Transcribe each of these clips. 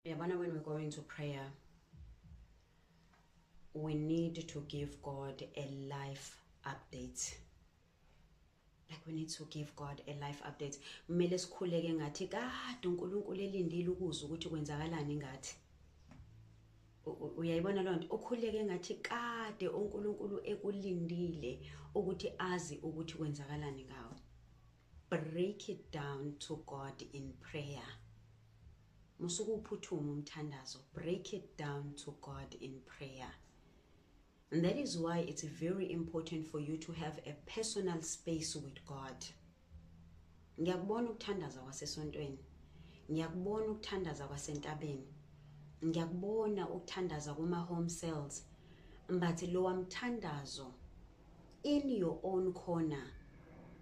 Yabona when we're going to prayer we need to give God a life update. Like we need to give God a life update. Kumele sikhuleke ngathi kade uNkulunkulu elindile ukuzwa ukuthi kwenzakalani ngathi. uyayibona loo nto ukhuleke ngathi kade unkulunkulu ekulindile ukuthi azi ukuthi kwenzakalani ngawo Break it down to God in prayer. Musuke uphuthuma umthandazo. Break it down to God in prayer. And that is why it's very important for you to have a personal space with God. Ngiyakubona ukuthandaza kwasesontweni. Ngiyakubona ukuthandaza kwasentabeni. Ngiyakubona ukuthandaza kuma home cells. Mbathi lo wamthandazo in your own corner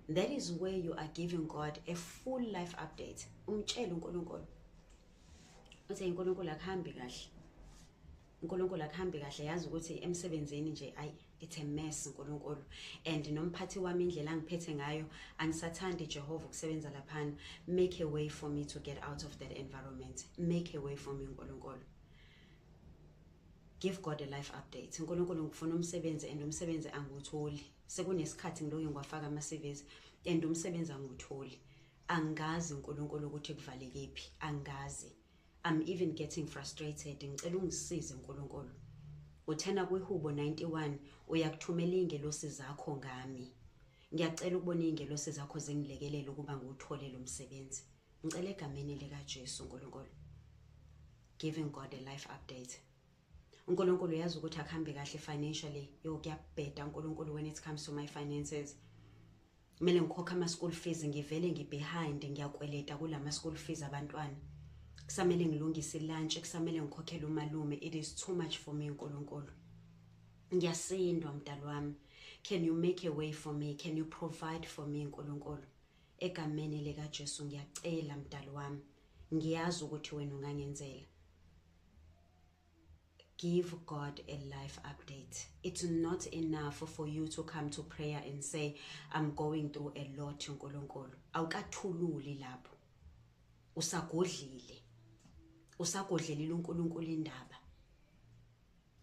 that is where you are giving god a full life update umtshele unkulunkulu uthi unkulunkulu akuhambi kahle unkulunkulu akuhambi kahle yazi ukuthi emsebenzini nje ayi it's a mess unkulunkulu and nomphathi wami indlela angiphethe ngayo angisathandi ijehova ukusebenza laphana make a way for me to get out of that environment make a way for me unkulunkulu Give God a life update. Nkulunkulu ngifuna umsebenzi and umsebenzi angiwutholi. Sekunesikhathi ngiloke ngiwafaka ama-CVs and umsebenzi angiwutholi. Angazi uNkulunkulu ukuthi kuvalekephi. Angazi. I'm even getting frustrated. Ngicela ungisize uNkulunkulu. Uthena kwihubo 91 uyakuthumela ingelosi zakho ngami. Ngiyacela ukubona ingelosi zakho zingilekelele ukuba ngiwuthole lo msebenzi. Ngicela egameni likaJesu uNkulunkulu. Giving God a life update. uNkulunkulu uyazi ukuthi akuhambi kahle financially yo kuyabheda uNkulunkulu when it comes to my finances kumele ngikhokhe ama school fees ngivele ngibehind ngiyakweleta kulama school fees abantwana kusamele ngilungise lunch kusamele ngikhokhele umalume it is too much for me uNkulunkulu ngiyasindwa mdalo wami can you make a way for me can you provide for me uNkulunkulu egameni lika Jesu ngiyacela mdalo wami ngiyazi ukuthi wena ungangenzela give God a life update. It's not enough for you to come to prayer and say, I'm going through a lot, Nkulunkulu. Awukathululi lapho. Usagodlile. Usagodlelile uNkulunkulu indaba.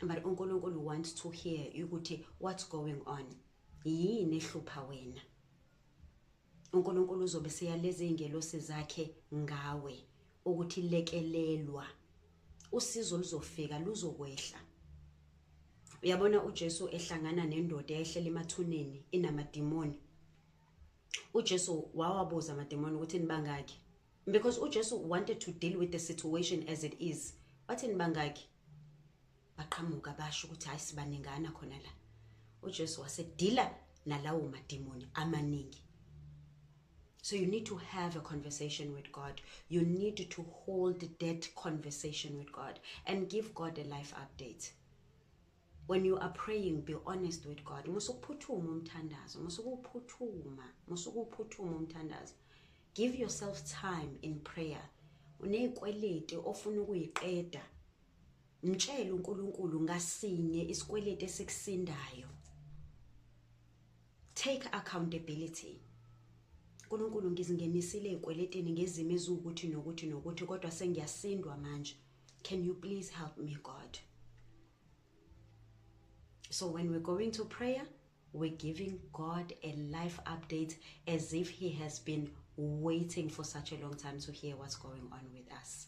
But uNkulunkulu wants to hear ukuthi what's going on. Yini ehlupha wena? uNkulunkulu uzobe seyaleza izingelosi zakhe ngawe ukuthi lekelelwa usizo luzofika luzokwehla uyabona uJesu ehlangana nendoda eyehlela emathuneni inamadimoni uJesu wawabuza amadimoni ukuthi nibangaki because uJesu wanted to deal with the situation as it is wathi nibangaki baqhamuka basho ukuthi hayi sibaningana khona la uJesu wasedila nalawo madimoni amaningi So you need to have a conversation with God. You need to hold that conversation with God and give God a life update. When you are praying, be honest with God. Musukuphuthuma umthandazo, musukuphuthuma, musukuphuthuma umthandazo. Give yourself time in prayer. Unezikweleti ofuna ukuyiqeda Mtshele uNkulunkulu ngasinye isikweleti esikusindayo. Take accountability. Nkulunkulu ngizingenisile ezikweletini ngezimo eziwukuthi nokuthi nokuthi kodwa sengiyasindwa manje. Can you please help me God? So when we're going to prayer, we're giving God a life update as if he has been waiting for such a long time to hear what's going on with us.